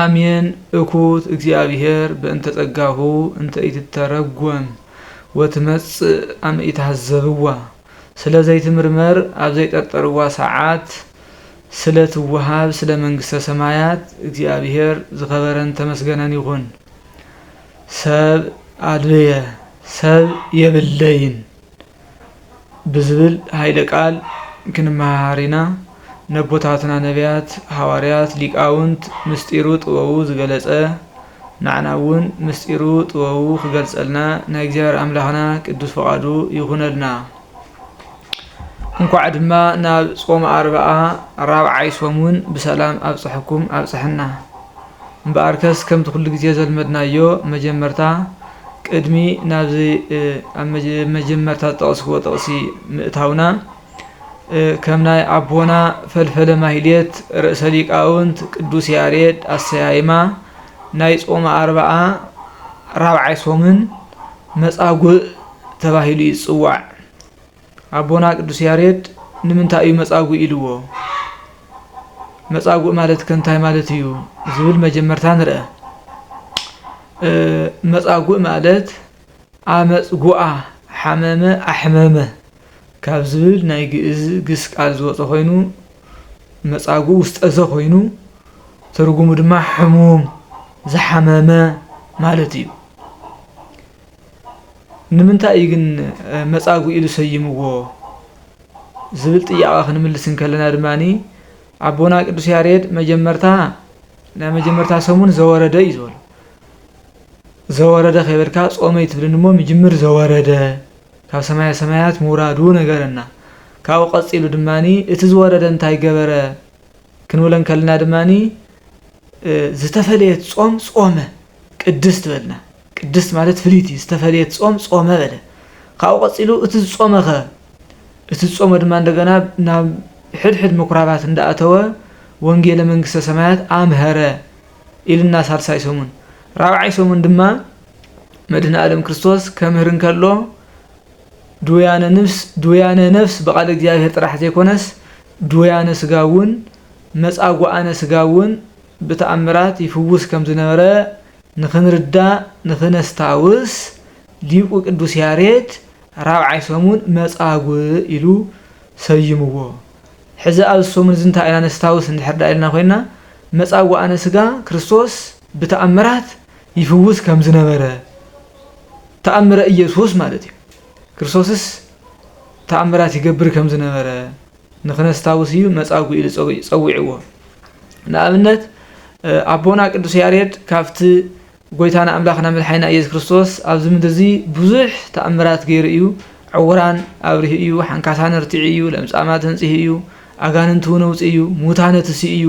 ኣሜን እኩት እግዚኣብሔር በእንተ ጸጋሁ እንተ ኢትተረጎም ወትመጽእ ኣመ ኢትሃዘብዋ ስለ ዘይትምርመር ኣብ ዘይጠርጠርዋ ሰዓት ስለ ትወሃብ ስለ መንግስተ ሰማያት እግዚኣብሔር ዝከበረን ተመስገነን ይኩን ሰብ ኣልብየ ሰብ የብለይን ብዝብል ሃይለ ቃል ክንመሃሃር ኢና። ነቦታትና ነብያት፣ ሃዋርያት፣ ሊቃውንት ምስጢሩ ጥበቡ ዝገለጸ ናዕና እውን ምስጢሩ ጥበቡ ክገልጸልና ናይ እግዚኣብሔር ኣምላክና ቅዱስ ፍቃዱ ይኩነልና። እንኳዕ ድማ ናብ ጾመ ኣርብዓ ራብዓይ ሶሙን ብሰላም ኣብጸሐኩም ኣብጸሐና። እምበኣርከስ ከምቲ ኩሉ ግዜ ዘልመድናዮ መጀመርታ ቅድሚ ናብዚ ኣብ መጀመርታ ዝጠቐስክዎ ጥቕሲ ምእታውና፣ ከም ናይ ኣቦና ፈልፈለ ማህሌት ርእሰ ሊቃውንት ቅዱስ ያሬድ ኣሰያይማ ናይ ጾመ ኣርብዓ ራብዓይ ሶምን መጻጉእ ተባሂሉ እዩ ዝጽዋዕ። ኣቦና ቅዱስ ያሬድ ንምንታይ እዩ መጻጉእ ኢልዎ? መጻጉእ ማለትከ እንታይ ማለት እዩ? ዝብል መጀመርታ ንርኣ። መጻጉእ ማለት ኣመጽጉኣ፣ ሓመመ፣ ኣሕመመ ካብ ዝብል ናይ ግእዝ ግስ ቃል ዝወጸ ኮይኑ መጻጉእ ውስጠዘ ኮይኑ ትርጉሙ ድማ ሕሙም፣ ዝሓመመ ማለት እዩ። ንምንታይ እዩ ግን መጻጉእ ኢሉ ሰይምዎ ዝብል ጥያቐ ክንምልስ እንከለና ድማ ኣቦና ቅዱስ ያሬድ መጀመርታ ናይ መጀመርታ ሰሙን ዘወረደ እዩ ዝበሎ ዘወረደ ከይበልካ ጾመ ይትብልን እሞ ምጅምር ዘወረደ ካብ ሰማያ ሰማያት ምውራዱ ነገረና ካብኡ ቀጺሉ ድማ እቲ ዝወረደ እንታይ ገበረ ክንብለ እንከለና ድማ ዝተፈለየት ጾም ጾመ ቅድስት በልና ቅድስት ማለት ፍልይቲ፣ ዝተፈልየት ጾም ጾመ በለ። ካብኡ ቀጺሉ እቲ ዝጾመኸ? እቲ ዝጾመ ድማ እንደገና ናብ ሕድሕድ ምኵራባት እንዳኣተወ ወንጌለ መንግስተ ሰማያት ኣምሀረ ኢሉና ሳልሳይ ሰሙን። ራብዓይ ሰሙን ድማ መድህነኣለም ክርስቶስ ከምህር እንከሎ ድውያነ ንፍስ ድውያነ ነፍስ ብቃለ እግዚኣብሔር ጥራሕ ዘይኮነስ ድውያነ ስጋ እውን መጻጉኣነ ስጋ እውን ብተኣምራት ይፍውስ ከም ዝነበረ ንኽንርዳእ ንኽነስታውስ፣ ሊቁ ቅዱስ ያሬድ ራብዓይ ሰሙን መጻጉእ ኢሉ ሰይምዎ። ሕዚ ኣብዚ ሰሙን እዚ እንታይ ኢና ነስታውስ እንድሕር ደኣ ኢልና ኮይንና፣ መጻጉኣነ ሥጋ ክርስቶስ ብተኣምራት ይፍውስ ከም ዝነበረ፣ ተኣምረ ኢየሱስ ማለት እዩ፣ ክርስቶስስ ተኣምራት ይገብር ከም ዝነበረ፣ ንክነስታውስ እዩ መጻጉ ኢሉ ጸዊዕዎ። ንኣብነት ኣቦና ቅዱስ ያሬድ ካብቲ ጎይታና ኣምላኽና መድሓኒና ኢየሱስ ክርስቶስ ኣብዚ ምድሪ እዚ ብዙሕ ተኣምራት ገይሩ እዩ። ዕውራን ኣብሪሁ እዩ፣ ሓንካሳን ኣርቲዑ እዩ፣ ለምጻማት ኣንጺሁ እዩ፣ ኣጋንንቲ እውን ኣውጺኡ እዩ፣ ሙታን ኣትሲኡ እዩ።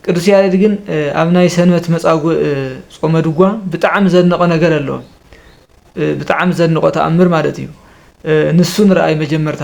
ቅዱስ ያሬድ ግን ኣብ ናይ ሰንበት መጻጉእ ጾመ ድጓ ብጣዕሚ ዘድነቆ ነገር ኣሎ ብጣዕሚ ዘድንቆ ተኣምር ማለት እዩ ንሱ ንርኣይ መጀመርታ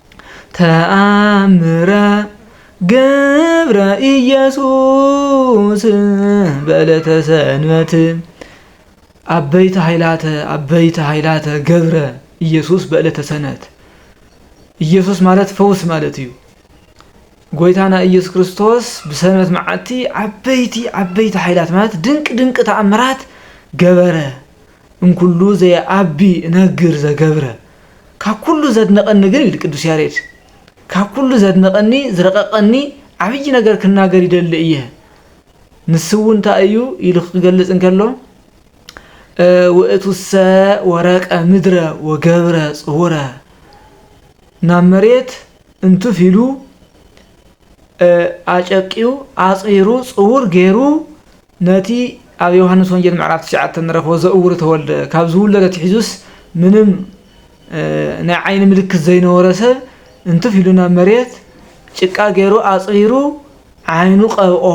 ተኣምረ ገብረ ኢየሱስ በዕለተ ሰንበት ዓበይቲ ኃይላተ ዓበይቲ ኃይላተ ገብረ ኢየሱስ በዕለተ ሰንበት ኢየሱስ ማለት ፈውስ ማለት እዩ ጎይታና ኢየሱስ ክርስቶስ ብሰንበት መዓልቲ ዓበይቲ ዓበይቲ ኃይላት ማለት ድንቂ ድንቂ ተኣምራት ገበረ እምኩሉ ዘየዐቢ እነግር ዘገብረ ካብ ኩሉ ዘድነቐኒ ግን ኢሉ ቅዱስ ያሬድ ካብ ኩሉ ዘድነቐኒ ዝረቐቐኒ ዓብዪ ነገር ክናገር ይደሊ እየ ንሱ እውን እንታይ እዩ ኢሉ ክገልጽ እንከሎ ውእቱሰ ወረቀ ምድረ ወገብረ ጽውረ ናብ መሬት እንትፍ ኢሉ ኣጨቂው ኣጽሪሩ ጽውር ገይሩ ነቲ ኣብ ዮሃንስ ወንጌል ምዕራፍ ትሽዓተ እንረኽቦ ዘእውሩ ተወልደ ካብ ዝውለድ ኣትሒዙስ ምንም ናይ ዓይኒ ምልክት ዘይነበሮ ሰብ እንትፍ ኢሉ ናብ መሬት ጭቃ ገይሩ ኣጽሪሩ ዓይኑ ቀብኦ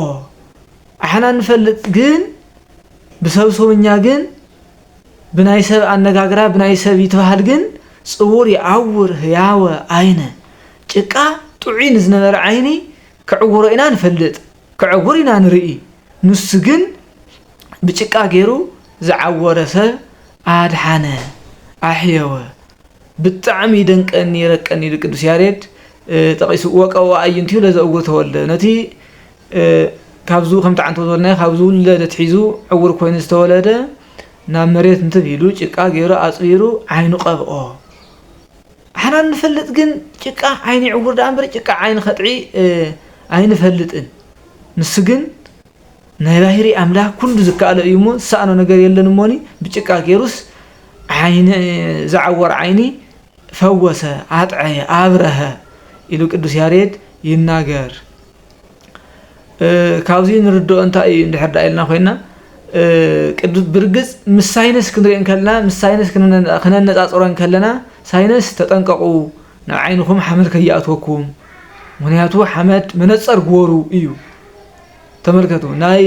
ኣሕና እንፈልጥ ግን ብሰብ ሰውኛ ግን ብናይ ሰብ ኣነጋግራ ብናይ ሰብ ይትበሃል ግን ጽውር ይዓውር ህያወ ዓይነ ጭቃ ጥዑይ ንዝነበረ ዓይኒ ክዕውሮ ኢና ንፈልጥ ክዕውር ኢና ንርኢ ንሱ ግን ብጭቃ ጌሩ ዝዓወረ ሰብ ኣድሓነ ኣሕየወ ብጣዕሚ ይደንቀኒ ይረቀኒ ኢሉ ቅዱስ ያሬድ ጠቂሱ ወቀዎ ኣዕይንቲሁ ለዘእውር ተወልደ ነቲ ካብዙ ከምቲ ዓንተው ዝበልናዮ ካብ ዝውለድ ኣትሒዙ ዕውር ኮይኑ ዝተወለደ ናብ መሬት እንትብ ኢሉ ጭቃ ጌሩ ኣፅቢሩ ዓይኑ ቀብኦ ኣሕና እንፈልጥ ግን ጭቃ ዓይኒ ዕውር ደኣ እምበር ጭቃ ዓይኒ ከጥዒ ኣይንፈልጥን ንሱ ግን ናይ ባህሪ ኣምላክ ኩሉ ዝከኣሎ እዩ እሞ ዝሰኣኖ ነገር የለን እሞኒ ብጭቃ ገይሩስ ዓይኒ ዝዓወር ዓይኒ ፈወሰ ኣጥዐየ ኣብረሀ ኢሉ ቅዱስ ያሬድ ይናገር ካብዚ ንርድኦ እንታይ እዩ እንድሕር ዳኣ ኢልና ኮይና ብርግፅ ምስ ሳይንስ ክንሪኦ ከለና ምስ ሳይንስ ክነነፃፅሮ ከለና ሳይንስ ተጠንቀቑ ናብ ዓይንኹም ሓመድ ከይኣትወኩም ምኽንያቱ ሓመድ መነፀር ግበሩ እዩ ተመልከቱ ናይ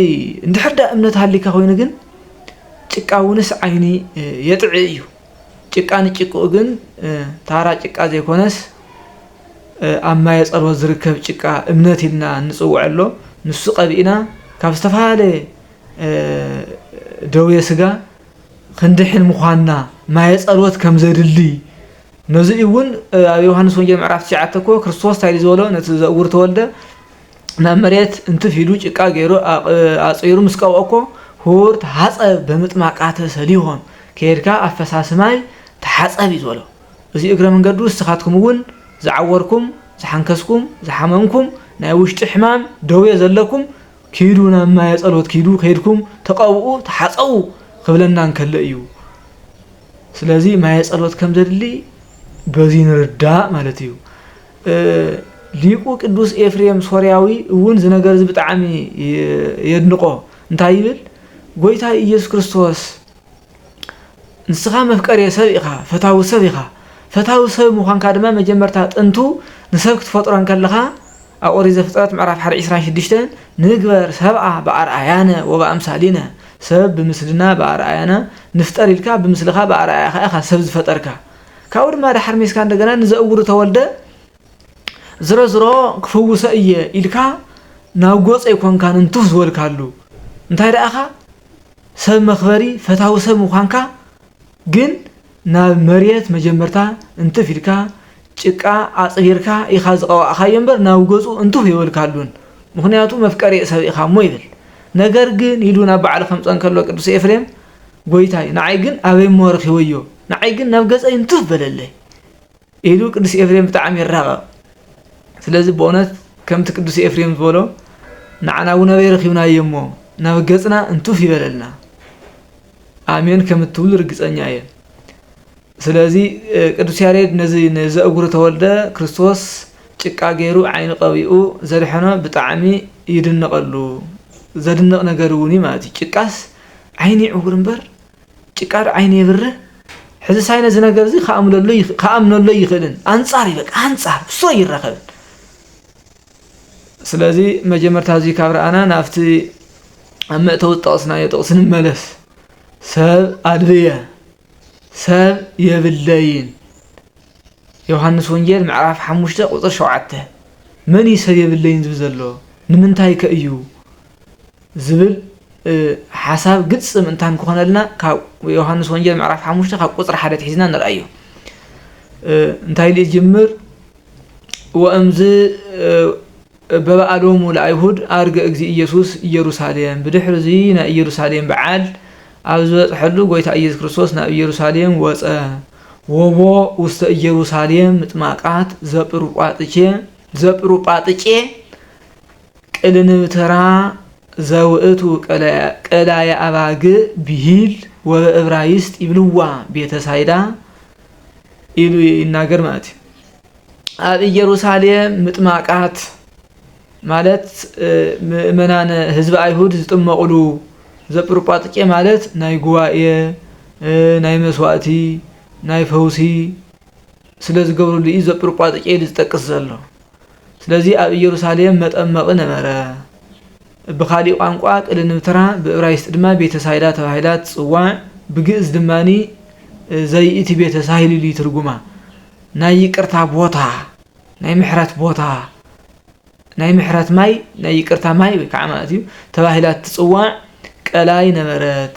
እንድሕር ዳኣ እምነት ሃልዩካ ኮይኑ ግን ጭቃ እውንስ ዓይኒ የጥዕይ እዩ ጭቃ ንጭቅኡ ግን ታራ ጭቃ ዘይኮነስ ኣብ ማየ ጸሎት ዝርከብ ጭቃ እምነት ኢልና እንጽውዖ ኣሎ ንሱ ቀቢእና ካብ ዝተፈላለየ ደዌ ስጋ ክንድሕን ምዃንና ማየ ጸሎት ከም ዘድሊ ነዚ እውን ኣብ ዮሃንስ ወንጌል ምዕራፍ ትሽዓተ እኮ ክርስቶስ እንታይ ዝበሎ ነቲ ዘእውር ተወልደ ናብ መሬት እንትፍ ኢሉ ጭቃ ገይሩ ኣጽሪሩ ምስ ቀብኦኮ ሁውርት ሀጸብ በምጥማቃተ ሰሊሆም ከይድካ ኣፈሳሲ ማይ ተሓጸብ እዩ ዝበሎ እዚ እግረ መንገዱ እስኻትኩም እውን ዝዓወርኩም ዝሓንከስኩም ዝሓመምኩም ናይ ውሽጢ ሕማም ደዌ ዘለኩም ኪዱ ናብ ማየ ጸሎት ኪዱ ከይድኩም ተቀብኡ ተሓጸቡ ክብለና እንከሎ እዩ ስለዚ ማየ ጸሎት ከም ዘድሊ በዚ ንርዳእ ማለት እዩ ሊቁ ቅዱስ ኤፍሬም ሶርያዊ እውን እዚ ነገር እዚ ብጣዕሚ የድንቆ እንታይ ይብል ጎይታይ ኢየሱስ ክርስቶስ ንስኻ መፍቀሬ ሰብ ኢኻ ፈታዊ ሰብ ኢኻ ፈታዊ ሰብ ምዃንካ ድማ መጀመርታ ጥንቱ ንሰብ ክትፈጥሮ እንከለኻ ኣብ ኦሪት ዘፍጥረት ምዕራፍ ሓደ ዒስራን ሽዱሽተን ንግበር ሰብኣ ብኣርኣያነ ወብኣምሳሊነ ሰብ ብምስልና ብኣርኣያና ንፍጠር ኢልካ ብምስልኻ ብኣርኣያኻ ኢኻ ሰብ ዝፈጠርካ ካብኡ ድማ ዳሓር ሜስካ እንደገና ንዘእውሩ ተወልደ ዝሮዝሮ ክፍውሶ እየ ኢልካ ናብ ጎጾ ኣይኮንካን እንትፍ ዝበልካሉ እንታይ ደኣኻ ሰብ መክበሪ ፈታዊ ሰብ ምዃንካ ግን ናብ መሬት መጀመርታ እንትፍ ኢልካ ጭቃ ኣጽሪርካ ኢኻ ዝቐባእኻዮ እምበር ናብ ገጹ እንትፍ የበልካሉን ምክንያቱ መፍቀሬ ሰብ ኢኻ እሞ ይብል ነገር ግን ኢሉ ናብ በዓሉ ከምጸ እንከሎ ቅዱስ ኤፍሬም ጐይታይ ንዓይ ግን ኣበይ እሞ ረኺበዮ፣ ንዓይ ግን ናብ ገጸይ እንትፍ በለለይ ኢሉ ቅዱስ ኤፍሬም ብጣዕሚ ይራቐቕ። ስለዚ ብእውነት ከምቲ ቅዱስ ኤፍሬም ዝበሎ ንዓና እውን ኣበይ ረኺብናዮ እሞ ናብ ገጽና እንትፍ ይበለልና። ኣሜን ከም እትብሉ ርግጸኛ እየ። ስለዚ ቅዱስ ያሬድ ነዚ ንዘእጉሩ ተወልደ ክርስቶስ ጭቃ ገይሩ ዓይኑ ቀቢኡ ዘድሐኖ ብጣዕሚ ይድነቐሉ። ዘድንቕ ነገር እውን እዩ ማለት እዩ። ጭቃስ ዓይኒ ዕውር እምበር ጭቃ ዶ ዓይኒ የብርህ ሕዝሳይ ነዚ ነገርዚ ክኣምነሉ ኣይኽእልን ኣንጻር እዩ በቃ ኣንጻር ምስ ኣይራኸብን ስለዚ መጀመርታ እዚ ካብ ረኣና ናብቲ ኣብ መእተዊ ዝጠቕስናዮ ጥቕሲ ንመለስ ሰብ ኣድልየ ሰብ የብለይን ዮሃንስ ወንጌል ምዕራፍ ሓሙሽተ ቁፅሪ ሸውዓተ መን እዩ ሰብ የብለይን ዝብል ዘሎ ንምንታይ ከ እዩ ዝብል ሓሳብ ግጽም እንታን ክኾነልና ካብ ዮሃንስ ወንጌል ምዕራፍ ሓሙሽተ ካብ ቁጽሪ ሓደ ትሒዝና ንርኣዮ እንታይ ኢሉ ይጅምር ወእምዝ በበኣሎሙ ለኣይሁድ ኣርገ እግዚ ኢየሱስ ኢየሩሳሌም ብድሕሪ እዚ ናይ ኢየሩሳሌም በዓል ኣብ ዝበፅሐሉ ጎይታ ኢየሱስ ክርስቶስ ናብ ኢየሩሳሌም ወፀ ወቦ ውስተ ኢየሩሳሌም ምጥማቃት ዘጵሩጳጥቼ ዘጵሩጳጥጬ ቅልንብ ተራ ዘውእቱ ቀላየ ኣባግእ ብሂል ወበእብራይስጥ ይብልዋ ቤተ ሳይዳ ኢሉ ይናገር ማለት እዩ። ኣብ ኢየሩሳሌም ምጥማቃት ማለት ምእመናን ህዝቢ ኣይሁድ ዝጥመቑሉ ዘጵርጳጥቄ ማለት ናይ ጉባኤ ናይ መስዋእቲ ናይ ፈውሲ ስለ ዝገብርሉ እዩ ዘጵርጳጥቄ ኢሉ ዝጠቅስ ዘሎ ስለዚ ኣብ ኢየሩሳሌም መጠመቒ ነበረ። እብ ኻሊእ ቋንቋ ቅልንብትራ ብእብራይስጢ ድማ ቤተ ሳይዳ ተባሂላ ትጽዋዕ ብግእዝ ድማኒ ዘይእቲ ቤተ ሳሂልል እዩ ትርጉማ ናይ ይቅርታ ቦታ ናይ ምሕረት ቦታ ናይ ምሕረት ማይ ናይ ይቅርታ ማይ ወይ ከዓ ማለት እዩ ተባሂላ ትጽዋዕ ቀላይ ነበረት።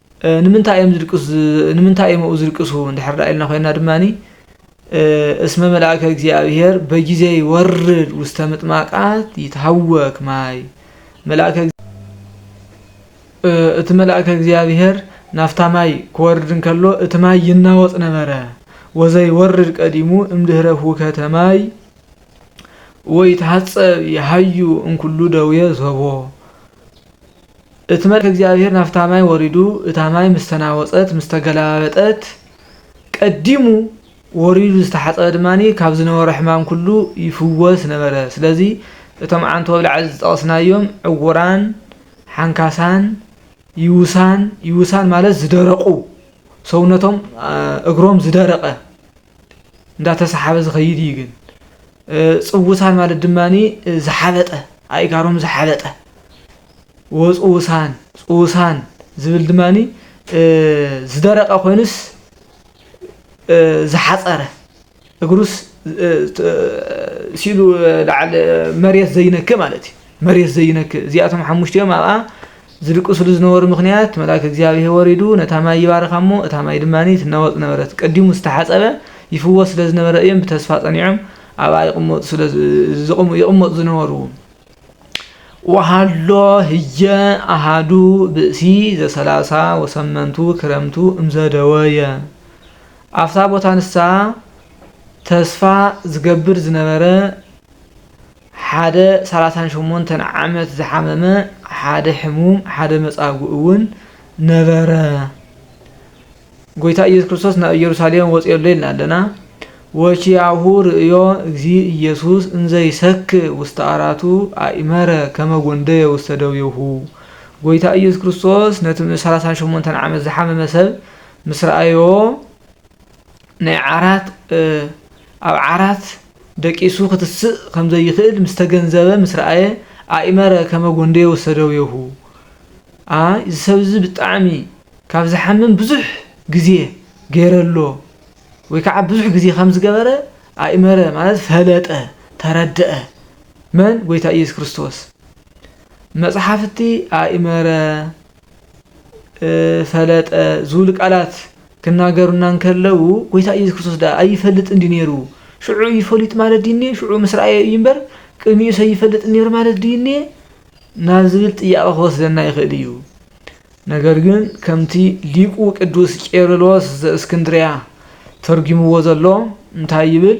ንምንታይ እዮም ዝድቅሱ ንምንታይ እዮም ኣብኡ ዝድቅሱ እንድሕር ደኣ ኢልና ኮይና ድማ እስመ መልኣከ እግዚኣብሔር በጊዜ ይወርድ ውስተ ምጥማቃት ይትሃወክ ማይ መልኣከ እቲ መልኣከ እግዚኣብሔር ናፍታ ማይ ክወርድ እንከሎ እቲ ማይ ይናወጽ ነበረ ወዘይወርድ ቀዲሙ እምድህረ ሁከተ ማይ ወይትሃጸብ ይሃዩ እንኩሉ ደዌ ሰቦ እቲ መልኣከ እግዚኣብሄር ናብታ ማይ ወሪዱ እታ ማይ ምስ ተናወጸት ምስ ተገላባበጠት ቀዲሙ ወሪዱ ዝተሓጸበ ድማ ካብ ዝነበሮ ሕማም ኩሉ ይፍወስ ነበረ ስለዚ እቶም ዓንተው ኣብ ላዕሊ ዝጠቐስናዮም ዕውራን ሓንካሳን ይውሳን ይውሳን ማለት ዝደረቁ ሰውነቶም እግሮም ዝደረቀ እንዳተሰሓበ ዝኸይድ እዩ ግን ፅውሳን ማለት ድማ ዝሓበጠ ኣእጋሮም ዝሓበጠ ወፅውሳን ፅውሳን ዝብል ድማ ዝደረቀ ኮይኑስ ዝሓፀረ እግሩስ ሲሉ ላዓል መሬት ዘይነክ ማለት እዩ መሬት ዘይነክ እዚኣቶም ሓሙሽቲኦም ኣብኣ ዝድቅሱሉ ዝነበሩ ምኽንያት መልኣከ እግዚኣብሄ ወሪዱ ነታ ማይ ይባርኻ እሞ እታ ማይ ድማ ትናወጽ ነበረት። ቀዲሙ ዝተሓጸበ ይፍወስ ስለ ዝነበረ እዮም ብተስፋ ጸኒዖም ኣብኣ ይቕመጡ ስለ ይቕመጡ ዝነበሩ። ወሃሎ ህየ ኣሃዱ ብእሲ ዘሰላሳ ወሰመንቱ ክረምቱ እምዘደወየ ኣብታ ቦታ ንሳ ተስፋ ዝገብር ዝነበረ፣ ሓደ ሰላሳን ሸሞንተን ዓመት ዝሓመመ ሓደ ሕሙም ሓደ መጻጉእ እውን ነበረ። ጎይታ ኢየሱስ ክርስቶስ ናብ ኢየሩሳሌም ወጽዮ ኣሎ ኢልና ኣለና። ወኪያሁ ርእዮ እግዚ ኢየሱስ እንዘ ይሰክ ውስተ አራቱ አእመረ ከመ ጎንደየ ውስተ ደዌሁ። ጎይታ ኢየሱስ ክርስቶስ ነቲ ሰላሳን ሸሞንተን ዓመት ዝሓመመ ሰብ ምስ ረኣዮ ናይ ዓራት ኣብ ዓራት ደቂሱ ክትስእ ከም ዘይክእል ምስ ተገንዘበ ምስ ረኣየ ኣኢመረ ከመ ጎንደየ ወሰደዌሁ ኣይ እዚ ሰብ እዚ ብጣዕሚ ካብ ዝሓምም ብዙሕ ግዜ ገይረ ኣሎ ወይ ከዓ ብዙሕ ግዜ ከም ዝገበረ ኣኢመረ ማለት ፈለጠ ተረደኣ መን ጎይታ ኢየሱስ ክርስቶስ መፅሓፍቲ ኣኢመረ ፈለጠ ዝብሉ ቃላት ክናገሩና እንከለዉ ጎይታ ኢየሱስ ክርስቶስ ደኣ ኣይፈልጥን እንዲ ነይሩ ሽዑ እዩ ፈሊጥ ማለት ድዩኔ ሽዑ ምስ ረኣየ እዩ እምበር ቅድሚኡ ሰይፈልጥ ነይሩ ማለት ድዩኔ ናብ ዝብል ጥያቐ ክወስደና ይኽእል እዩ። ነገር ግን ከምቲ ሊቁ ቅዱስ ቄርሎስ ዘእስክንድርያ ተርጒምዎ ዘሎ እንታይ ይብል?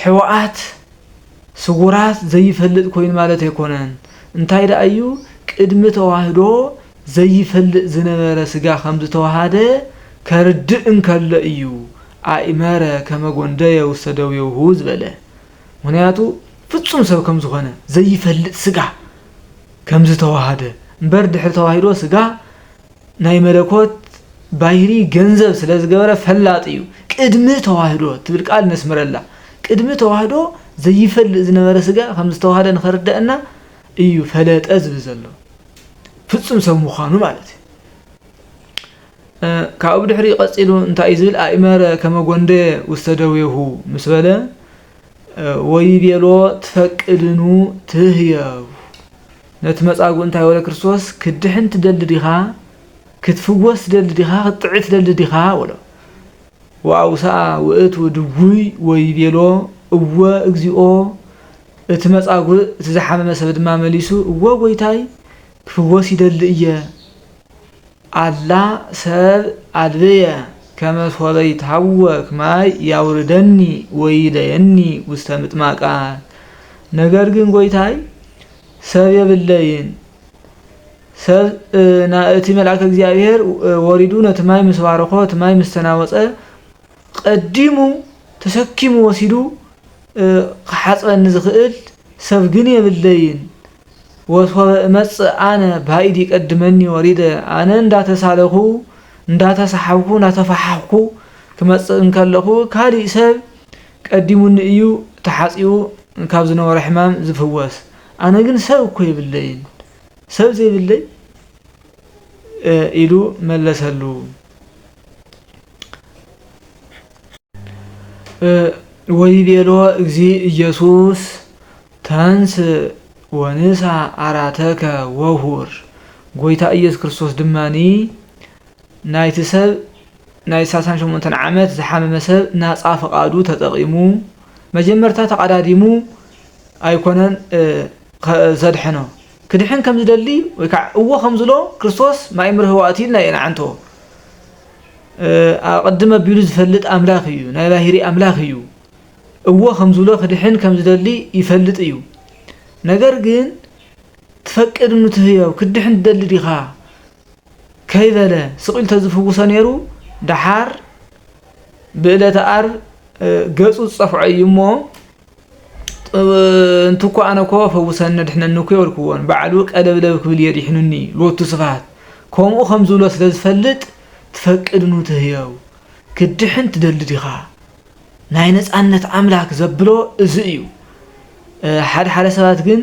ሕወኣት ስውራት ዘይፈልጥ ኮይኑ ማለት ኣይኮነን እንታይ ደኣ እዩ ቅድሚ ተዋህዶ ዘይፈልጥ ዝነበረ ስጋ ከምዝተዋሃደ ከርድእ እንከሎ እዩ ኣእመረ ከመ ጎንደየ ውስተ ደዌሁ ዝበለ ምክንያቱ ፍጹም ሰብ ከምዝኾነ ዘይፈልጥ ስጋ ከምዝተዋሃደ እምበር ድሕሪ ተዋሂዶ ስጋ ናይ መለኮት ባይሪ ገንዘብ ስለ ዝገበረ ፈላጥ እዩ። ቅድሚ ተዋህዶ ትብል ቃል ነስምረላ። ቅድሚ ተዋህዶ ዘይፈልጥ ዝነበረ ስጋ ከም ዝተዋህደ ንኸርደእና እዩ ፈለጠ ዝብል ዘሎ። ፍጹም ሰብ ምዃኑ ማለት እዩ። ካብኡ ብድሕሪ ቀጺሉ እንታይ እዩ ዝብል ኣእመረ ከመጎንደ ውስተ ደዌሁ ምስ በለ ወይቤሎ ትፈቅድኑ ትህየቡ ነቲ መጻጉእ እንታይ በሎ ክርስቶስ ክትድሕን ትደሊ ዲኻ ክትፍወስ ትደሊ ዲኻ ክትጥዒ ትደሊ ዲኻ በሎ ወኣውስኣ ውእቱ ድውይ ወይቤሎ እወ እግዚኦ እቲ መጻጉእ እቲ ዝሓመመ ሰብ ድማ መሊሱ እወ ጎይታይ ክፍወስ ይደሊ እየ ኣላ ሰብ ኣልበየ ከመ ሶበ ይትሃወክ ማይ ያውርደኒ ወይለየኒ ውስተ ምጥማቃት ነገር ግን ጎይታይ ሰብ የብለይን ሰብ እቲ መልኣከ እግዚኣብሔር ወሪዱ ነቲ ማይ ምስ ባረኮ እቲ ማይ ምስ ተናወፀ ቀዲሙ ተሰኪሙ ወሲዱ ክሓፅበኒ ዝኽእል ሰብ ግን የብለይን ወሶበ እመጽእ ኣነ ባይድ ይቀድመኒ ወሪደ ኣነ እንዳተሳለኹ እንዳተሳሓብኩ እንዳተፋሓኽኩ ክመጽእ እንከለኹ ካሊእ ሰብ ቀዲሙኒ እዩ ተሓጺቡ ካብ ዝነበሮ ሕማም ዝፍወስ ኣነ ግን ሰብ እኮ የብለይን ሰብ ዘይብለይ ኢሉ መለሰሉ። ወይቤሎ እግዚእ ኢየሱስ ተንሥእ ወንሣእ ዓራተከ ወሁር ጐይታ ኢየሱስ ክርስቶስ ድማ ናይቲ ሰብ ናይ ሳሳን ሸሞንተን ዓመት ዝሓመመ ሰብ ናፃ ፍቓዱ ተጠቒሙ መጀመርታ ተቓዳዲሙ ኣይኮነን ዘድሐኖ ክድሕን ከም ዝደሊ ወይ ከዓ እዎ ከም ዝሎ ክርስቶስ ማይ ምርህዋእቲ ኢልና የንዓንቶ ኣቐድም ኣቢሉ ዝፈልጥ ኣምላኽ እዩ ናይ ባህሪ ኣምላኽ እዩ እወ ከምዝብሎ ክድሕን ከም ዝደሊ ይፈልጥ እዩ ነገር ግን ትፈቅድ እኑ ትህዮብ ክትድሕን ትደሊ ዲኻ ከይበለ ስቅ ኢሉ ተዝፍውሶ ነይሩ ደሓር ብእለተ ኣርብ ገጹ ዝጸፍዖ እዩ እሞ እንትኮ ኣነ ኮ ፈውሰኒ ኣድሕነኒ እኮ የበልክዎን ባዕሉ ቀለብለብ ክብል እየ ዲሕኑኒ ሎቱ ስብሃት ከምኡ ከም ዝብሎ ስለ ዝፈልጥ ትፈቅድ ኑ ትህየው ክድሕን ትደሊ ዲኻ ናይ ነፃነት ኣምላክ ዘብሎ እዚ እዩ ሓደ ሓደ ሰባት ግን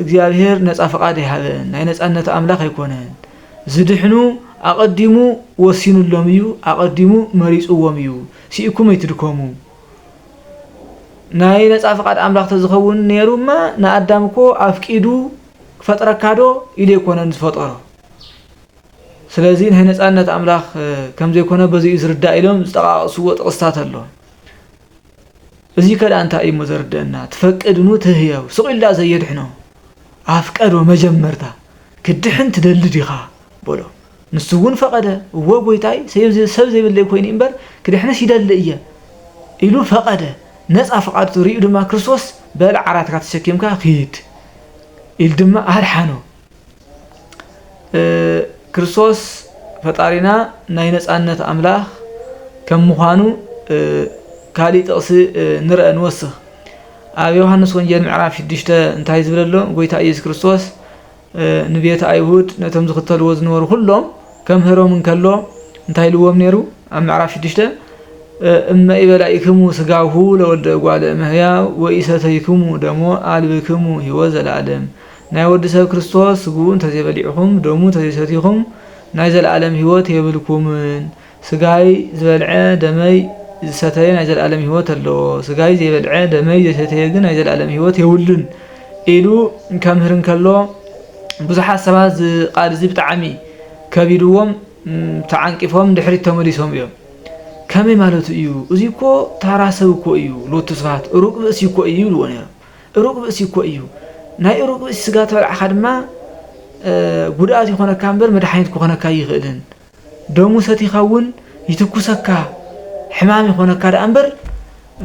እግዚኣብሔር ነፃ ፍቃድ ኣይሃበን ናይ ነፃነት ኣምላክ ኣይኮነን ዝድሕኑ ኣቀዲሙ ወሲኑሎም እዩ ኣቀዲሙ መሪፅዎም እዩ ሲኢኩም ኣይትድከሙ ናይ ነፃ ፍቃድ ኣምላክ ተዝኸውን ነይሩማ ንኣዳም እኮ ኣፍቂዱ ክፈጥረካዶ ኢሉ ኣይኮነን ዝፈጠሮ ስለዚ ናይ ነጻነት ኣምላኽ ከም ዘይኮነ በዚ እዩ ዝርዳእ ኢሎም ዝጠቓቕስዎ ጥቕስታት ኣሎ። እዚከ ደኣ እንታይ እዩ እሞ ዘርድእና ትፈቅድኑ ትህየው ስቕ ኢሉ ደኣ ዘየድሕኖ ኣፍቀዶ መጀመርታ ክትድሕን ትደሊ ዲኻ በሎ። ንሱ እውን ፈቐደ እወ ጎይታይ ሰብ ዘይብለይ ኮይኑ እምበር ክድሕንስ ይደሊ እየ ኢሉ ፈቐደ። ነጻ ፍቓድቱ ርእዩ ድማ ክርስቶስ በል ዓራትካ ተሸኪምካ ኪድ ኢሉ ድማ ኣድሓኖ። ክርስቶስ ፈጣሪና ናይ ነፃነት ኣምላኽ ከም ምዃኑ ካሊእ ጥቕሲ ንርአ ንወስኽ ኣብ ዮሃንስ ወንጌል ምዕራፍ ሽዱሽተ እንታይ ዝብል ኣሎ ጎይታ ኢየሱስ ክርስቶስ ንቤት ኣይሁድ ነቶም ዝኽተልዎ ዝነበሩ ኩሎም ከምህሮም እንከሎ እንታይ ኢልዎም ነይሩ ኣብ ምዕራፍ ሽዱሽተ እመ ኢበላኢክሙ ስጋሁ ለወልደ እጓለ እመሕያው ወኢሰተይክሙ ደሞ ኣልብክሙ ህይወት ዘለኣለም ናይ ወዲ ሰብ ክርስቶስ ስግኡ እንተዘይበሊዕኩም ደሙ እንተዘይሰቲኹም ናይ ዘለኣለም ሕይወት የብልኩምን። ስጋይ ዝበልዐ ደመይ ዝሰተየ ናይ ዘለኣለም ሕይወት ኣለዎ፣ ስጋይ ዘይበልዐ ደመይ ዘይሰተየ ግን ናይ ዘለኣለም ሕይወት የብሉን ኢሉ ከምህር እንከሎ ብዙሓት ሰባት እዚ ቃል እዚ ብጣዕሚ ከቢድዎም ተዓንቂፎም ንድሕሪት ተመሊሶም እዮም። ከመይ ማለቱ እዩ እዙይ እኮ ታራ ሰብ እኮ እዩ ሎቱ ስብሃት ሩቅ ብእሲ እኮ እዩ ይብልዎ ነይሮም። እሩግ ብእሲ እኮ እዩ ናይ እሩግ ብእሲ ስጋ ተበላዕካ ድማ ጉድኣት ይኾነካ እምበር መድሓኒት ክኾነካ ኣይኽእልን ደሙ ሰቲኻ እውን ይትኩሰካ ሕማም ይኾነካ ደኣ እምበር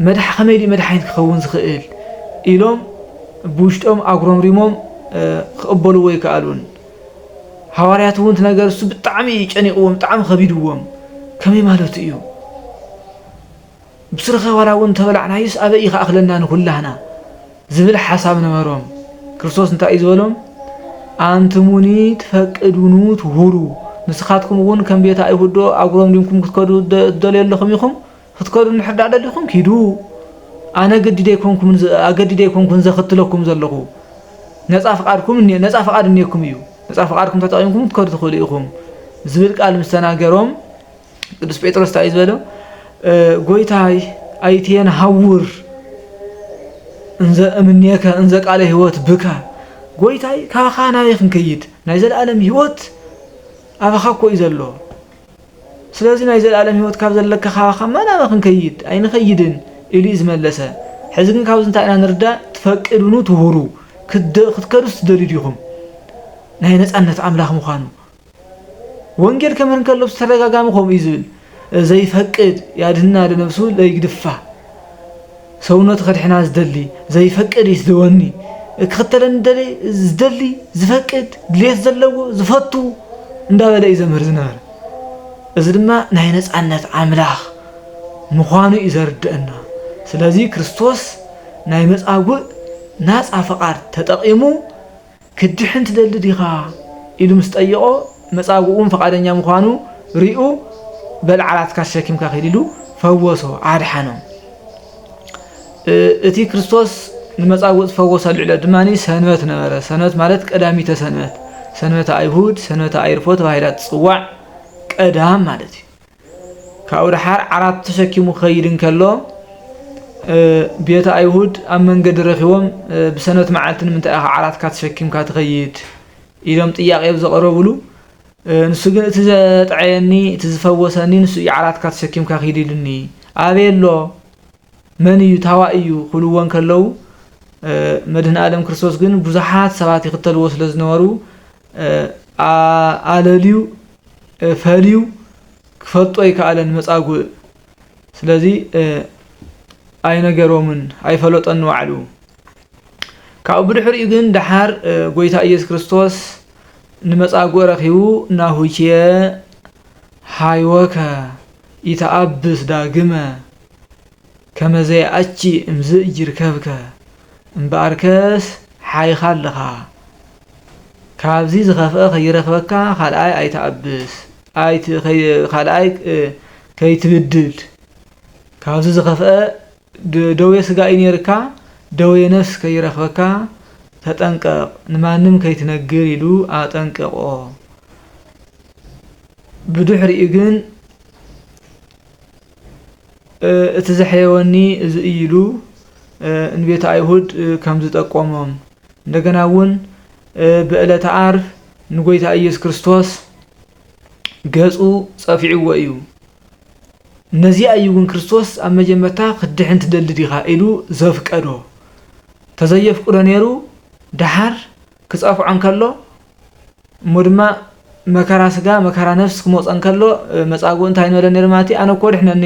መድሓ ከመይ ድዩ መድሓኒት ክኸውን ዝኽእል ኢሎም ብውሽጦም ኣጉረምሪሞም ክቕበልዎ ኣይከኣሉን ሃዋርያት እውን እቲ ነገር እሱ ብጣዕሚ እዩ ጨኒቕዎም ብጣዕሚ ከቢድዎም ከመይ ማለቱ እዩ ብስርኻ ዋላ እውን እንተበላዕናዩስ ኣበይ ይክኣክለና ንኩላህና ዝብል ሓሳብ ነበሮም። ክርስቶስ እንታይ እዩ ዝበሎም? ኣንትሙኒ ትፈቅዱኑ ትሁሩ ንስኻትኩም እውን ከም ቤት ኣይሁድዶ ኣጉረምሪምኩም ክትከዱ ትደልዮ ኣለኹም ኢኹም? ክትከዱ እንድሕር ደኣ ደሊኹም ኪዱ ኣነ ግዲድ ኣይኮንኩምን ኣገዲድ ኣይኮንኩን ዘኽትለኩም ዘለኹ ነፃ ፍቃድኩም ነፃ ፍቃድ እኔኩም እዩ ነፃ ፍቃድኩም ተጠቂምኩም ክትከዱ ትኽእሉ ኢኹም ዝብል ቃል ምስ ተናገሮም ቅዱስ ጴጥሮስ እንታይ እዩ ዝበሎ ጎይታይ ኣይትየን ሃውር እንዘ እምኔከ እንዘ ቃለ ህይወት ብከ ጎይታይ ካባኻ ናበይ ክንከይድ ናይ ዘለኣለም ህይወት ኣባኻ እኮ እዩ ዘሎ ስለዚ ናይ ዘለኣለም ህይወት ካብ ዘለካ ካባኻ መናበ ክንከይድ ኣይንኸይድን ኢሉ እዩ ዝመለሰ ሕዚ ግን ካብዚ እንታይ ኢና ንርዳእ ትፈቅድኑ ትሁሩ ክትከዱስ ትደልዩ ዲኹም ናይ ነፃነት ኣምላኽ ምዃኑ ወንጌል ከምህር እንከሎ ብተደጋጋሚ ከምኡ እዩ ዝብል ዘይፈቅድ ያድህና ለነብሱ ለይግድፋ ሰውነቱ ከድሕና ዝደሊ ዘይፈቅድ ይስደወኒ ክኽተለኒ ደሊ ዝደሊ ዝፈቅድ ድሌት ዘለዎ ዝፈቱ እንዳበለ እዩ ዘምህር ዝነበረ እዚ ድማ ናይ ነፃነት ኣምላኽ ምዃኑ እዩ ዘርድአና ስለዚ ክርስቶስ ናይ መፃጉእ ናፃ ፈቓድ ተጠቒሙ ክትድሕን ትደሊ ዲኻ? ኢሉ ምስ ጠየቖ፣ መጻጉኡ እውን ፍቓደኛ ምዃኑ ሪኡ፣ በል ዓራትካ ተሸኪምካ ኪድ ኢሉ ፈወሶ፣ ኣድሓኖ። እቲ ክርስቶስ ንመጻጉእ ዝፈወሰሉ ዕለት ድማ ሰንበት ነበረ። ሰንበት ማለት ቀዳሚተ ሰንበት፣ ሰንበተ ኣይሁድ፣ ሰንበተ ኣይርፎ ተባሂላ ትጽዋዕ ቀዳም ማለት እዩ። ካብኡ ደሓር ዓራት ተሸኪሙ ክኸይድ እንከሎ ቤት ኣይሁድ ኣብ መንገዲ ረኺቦም ብሰንበት መዓልቲ ንምንታይ ኢኻ ዓራትካ ተሸኪምካ ትኸይድ ኢሎም ጥያቄ ኣብ ዘቐረብሉ ንሱ ግን እቲ ዘጥዐየኒ እቲ ዝፈወሰኒ ንሱ እዩ ዓራትካ ተሰኪምካ ኪድ ኢሉኒ ኣበይ ኣሎ መን እዩ ታዋ እዩ ክብልዎ ከለዉ መድህን ኣለም ክርስቶስ ግን ብዙሓት ሰባት ይኽተልዎ ስለ ዝነበሩ ኣለልዩ ፈልዩ ክፈልጦ ኣይከኣለን መጻጉእ ስለዚ ኣይነገሮምን ኣይፈለጦን ንባዕሉ ካብኡ ብድሕሪኡ ግን ደሓር ጎይታ ኢየሱስ ክርስቶስ ንመጻጉእ ረኺቡ ናሁቼ ሃይወከ ይተኣብስ ዳግመ ከመዘይ ኣቺ እምዝእ ጅርከብከ እምበኣርከስ ሓይኻ ኣለኻ ካብዚ ዝኸፍኣ ከይረኽበካ ካልኣይ ኣይትኣብስ ኣይት ካልኣይ ከይትብድል ካብዚ ዝኸፍኣ ደዌ ስጋ እዩ ነይርካ ደዌ ነፍስ ከይረኽበካ ተጠንቀቕ ንማንም ከይትነግር ኢሉ ኣጠንቀቖ ብድሕሪኡ ግን እቲ ዘሕየወኒ እዚ እዩ ኢሉ ንቤተ ኣይሁድ ከም ዝጠቆሞም እንደገና እውን ብዕለተ ዓርብ ንጎይታ ኢየሱስ ክርስቶስ ገጹ ጸፊዕዎ እዩ። ነዚኣ እዩ እውን ክርስቶስ ኣብ መጀመርታ ክትድሕን ትደሊ ዲኻ ኢሉ ዘፍቀዶ። ተዘየፍቅዶ ነይሩ ደሓር ክጸፍዖ እንከሎ እሞ ድማ መከራ ስጋ መከራ ነፍስ ክመጾ እንከሎ መጻጉእ እንታይ ንበለ ነይሩ ማለት እዩ ኣነ እኮ ኣድሕነኒ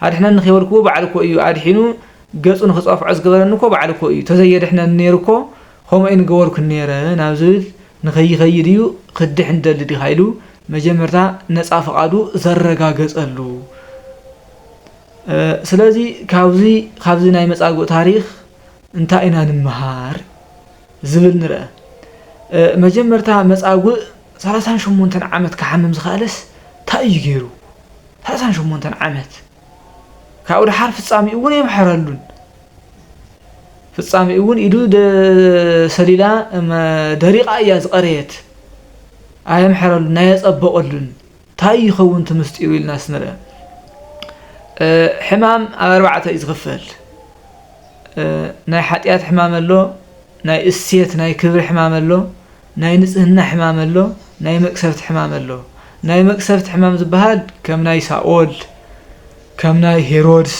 ኣድሕነኒ ከይበልክዎ በዓል እኮ እዩ ኣድሒኑ ገጹ ንክጸፍዖ ዝገበረኒ እኮ በዓል እኮ እዩ ተዘየድሕነኒ ነይሩ እኮ ከምኡ ኣይንገበርኩን ነይረ ናብ ዝብል ንከይከይድ እዩ ክትድሕን ትደሊ ዲኻ ኢሉ መጀመርታ ነጻ ፍቓዱ ዘረጋገጸሉ ስለዚ ካብዚ ካብዚ ናይ መጻጉእ ታሪኽ እንታይ ኢና ንምሃር ዝብል ንርኣ። መጀመርታ መጻጉእ ሰላሳን ሸሞንተን ዓመት ክሓምም ዝኸኣለስ ታይ እዩ ገይሩ? ሰላሳን ሸሞንተን ዓመት ካብኡ ደሓር ፍጻሜኡ እውን የምሕረሉን። ፍጻሜኡ እውን ኢዱ ሰሊላ ደሪቓ እያ ዝቐረየት። ኣየምሕረሉን ኣየጸበቐሉን። ታይ ይኸውን እቲ ምስጢሩ ኢልና ስንርኢ ሕማም ኣብ ኣርባዕተ እዩ ዝኽፈል ናይ ሓጢኣት ሕማም ኣሎ ናይ እሴት ናይ ክብሪ ሕማም ኣሎ ናይ ንጽህና ሕማም ኣሎ ናይ መቅሰፍቲ ሕማም ኣሎ ናይ መቅሰፍቲ ሕማም ዝበሃል ከም ናይ ሳኦል ከም ናይ ሄሮድስ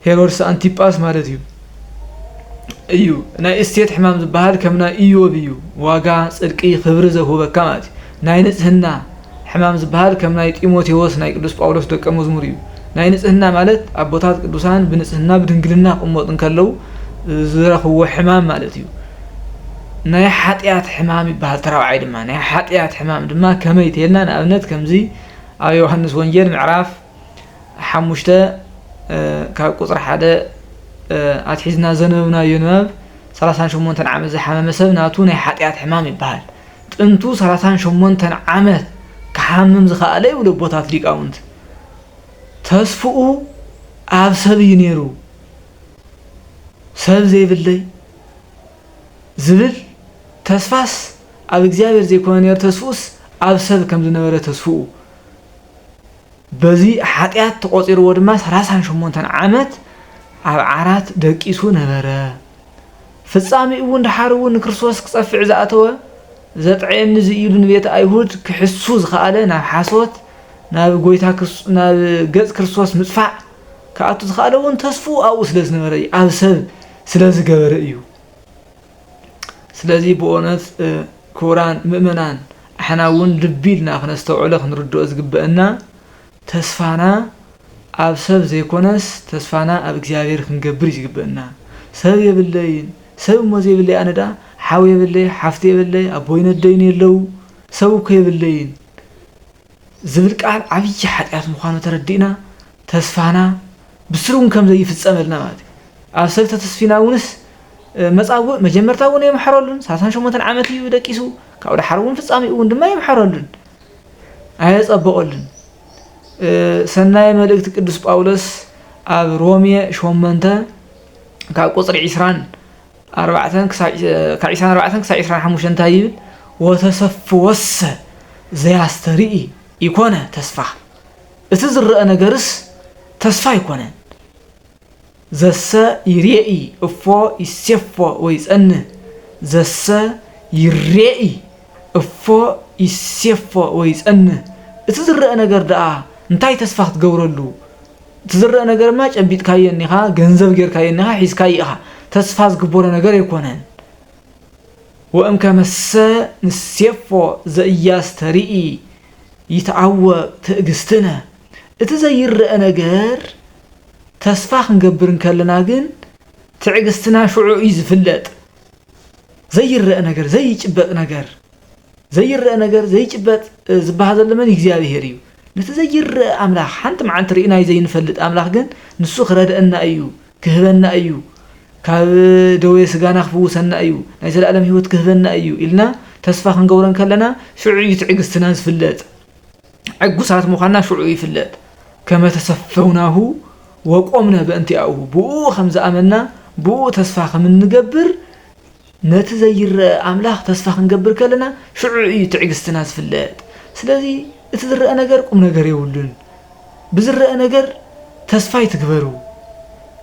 ሄሮድስ ኣንቲጳስ ማለት እዩ እዩ ናይ እስቴት ሕማም ዝበሃል ከም ናይ እዮብ እዩ ዋጋ ጽድቂ ክብሪ ዘውህበካ ማለት እዩ ናይ ንጽህና ሕማም ዝበሃል ከም ናይ ጢሞቴዎስ ናይ ቅዱስ ጳውሎስ ደቀ መዝሙር እዩ ናይ ንጽህና ማለት ኣቦታት ቅዱሳን ብንጽህና ብድንግልና ክቕመጡ እንከለው ዝረኽብዎ ሕማም ማለት እዩ ናይ ሓጢኣት ሕማም ይበሃል ተራብዓይ ድማ ናይ ሓጢኣት ሕማም ድማ ከመይ ተልና ንኣብነት ከምዚ ኣብ ዮሃንስ ወንጌል ምዕራፍ ሓሙሽተ ካብ ቁፅሪ ሓደ ኣትሒዝና ዘንበብናዮ ንባብ ሰላሳን ሸሞንተን ዓመት ዝሓመመ ሰብ ናቱ ናይ ሓጢኣት ሕማም ይበሃል ጥንቱ ሰላሳን ሸሞንተን ዓመት ክሓምም ዝኸኣለ ይብሉ ኣቦታት ሊቃውንት ተስፍኡ ኣብ ሰብ እዩ ነይሩ ሰብ ዘይብለይ ዝብል ተስፋስ ኣብ እግዚኣብሔር ዘይኮነ ነይሩ ተስፍኡስ ኣብ ሰብ ከም ዝነበረ ተስፍኡ በዚ ሓጢኣት ተቖጺርዎ ድማ ሰላሳን ሸሞንተን ዓመት ኣብ ዓራት ደቂሱ ነበረ። ፍጻሜኡ እውን ደሓር እውን ንክርስቶስ ክጸፍዕ ዝኣተወ ዘጥዕየኒ እዚ እዩ ኢሉ ንቤተ ኣይሁድ ክሕሱ ዝኸኣለ ናብ ሓሶት ናብ ጎይታ ናብ ገጽ ክርስቶስ ምጽፋዕ ክኣቱ ዝኸኣለ እውን ተስፉ ኣብኡ ስለ ዝነበረ እዩ ኣብ ሰብ ስለ ዝገበረ እዩ ስለዚ ብኦነት ክቡራን ምእመናን ኣሕና እውን ልቢ ኢልና ክነስተውዕሎ ክንርድኦ ዝግበእና ተስፋና ኣብ ሰብ ዘይኮነስ ተስፋና ኣብ እግዚኣብሔር ክንገብር እዩ ዝግበእና ሰብ የብለይን ሰብ እሞ ዘይብለይ ኣነ ደኣ ሓው የብለይ ሓፍቲ የብለይ ኣቦይን ኣደይን የለው ሰብ እኮ የብለይን ዝብል ቃል ዓብዪ ሓጢኣት ምዃኑ ተረዲእና ተስፋና ብስሩ እውን ከም ዘይፍጸመልና ማለት እዩ። ኣብ ሰብ ተተስፊና እውንስ መጻጉእ መጀመርታ እውን የምሐረሉን ሰላሳን ሸሞንተን ዓመት እዩ ደቂሱ ካብኡ ደሓር እውን ፍጻሜኡ እውን ድማ የምሐረሉን ኣየጸበቐሉን ሰናይ መልእክቲ ቅዱስ ጳውሎስ ኣብ ሮሜ ሾመንተ ካብ ቁጽሪ ዒስራን ኣርባዕተን ክሳዕ ካብ ዒስራን ኣርባዕተን ክሳዕ ዒስራን ሓሙሽተን እንታይ ይብል ወተሰፍወሰ ዘያስተርኢ ይኮነ ተስፋ እቲ ዝረኣ ነገርስ ተስፋ ኣይኮነን ዘሰ ይሬኢ እፎ ይሴፎ ወይጸንህ ዘሰ ይሬኢ እፎ ይሴፎ ወይጸንህ እቲ ዝረኣ ነገር ደኣ እንታይ ተስፋ ክትገብረሉ እቲ ዝረኣ ነገር እማ ጨቢጥካዮ እኒኻ ገንዘብ ጌርካዮ እኒኻ ሒዝካዮ ኢኻ ተስፋ ዝግበሮ ነገር ኣይኮነን ወእምከመሰ ንሴፎ ዘኢያስተርኢ ይትዓወቅ ትእግስትነ እቲ ዘይረኣ ነገር ተስፋ ክንገብር እንከለና ግን ትዕግስትና ሽዑ እዩ ዝፍለጥ ዘይረኣ ነገር ዘይጭበጥ ነገር ዘይረኣ ነገር ዘይጭበጥ ዝበሃ ዘሎ መን እግዚኣብሄር እዩ ነቲ ዘይረኣ ኣምላኽ ሓንቲ መዓልቲ ርኢናዩ ዘይንፈልጥ ኣምላኽ ግን ንሱ ክረድኣና እዩ ክህበና እዩ ካብ ደዌ ስጋና ክፍውሰና እዩ ናይ ዘለኣለም ህይወት ክህበና እዩ ኢልና ተስፋ ክንገብሮ እንከለና ሽዑ እዩ ትዕግስትና ዝፍለጥ ዕጉሳት ምዃንና ሽዑ ይፍለጥ ከመ ተሰፈውናሁ ወቆምነ በእንቲኣኡ ብኡ ከም ዝኣመና ብኡ ተስፋ ከም እንገብር ነቲ ዘይረኣ ኣምላኽ ተስፋ ክንገብር ከለና ሽዑ ኢዩ ትዕግስትና ዝፍለጥ። ስለዚ እቲ ዝረኣ ነገር ቁምነገር የብሉን፣ ብዝረኣ ነገር ተስፋ ኣይትግበሩ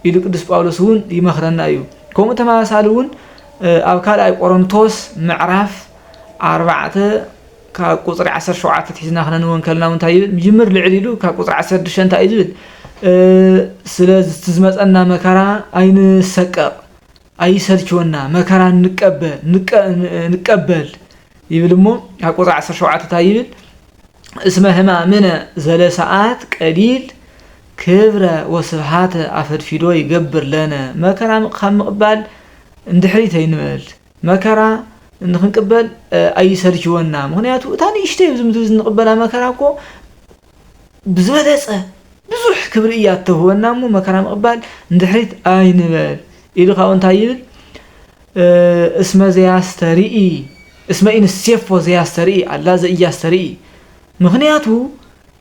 ኢሉ ቅዱስ ጳውሎስ እውን ይመኽረና ኢዩ። ከምኡ ተመሳሳሊ እውን ኣብ ካልኣይ ቆሮንቶስ ምዕራፍ ኣርባዕተ ካብ ቁፅሪ ዓሰርተ ሸውዓተ ትሒዝና ክነንብቦ እንከለና እውን እንታይ ይብል? ምጅምር ልዕል ኢሉ ካብ ቁፅሪ ዓሰርተ ሽዱሽተ እንታይ እዩ ዝብል? ስለ ዝመፀና መከራ ኣይንሰቀቕ ኣይሰልችወና መከራ ንቀበ ንቀ ንቀበል ይብል እሞ ኣብ ቁፅሪ ዓሰርተ ሸውዓተ እንታይ ይብል እስመ ህማምነ ዘለሰዓት ቀሊል ክብረ ወስብሃተ ኣፈድፊዶ ይገብር ለነ መከራ ካብ ምቕባል እንድሕሪት ኣይንበል መከራ ንክንቅበል እ፣ ኣይሰልችወና ምክንያቱ እታ ንእሽተይ ኣብዚ ምድሪ እዚ ንቕበላ መከራ እኮ ብዝበለጸ ብዙሕ ክብሪ እያ እተህወና እሞ መከራ ምቕባል ንድሕሪት ኣይንበል ኢሉ ካብኡ እንታይ ይብል እስመ ዘያስተርኢ እስመ ኢንሴፎ ዘያስተርኢ ኣላ ዘእያስተርኢ ምክንያቱ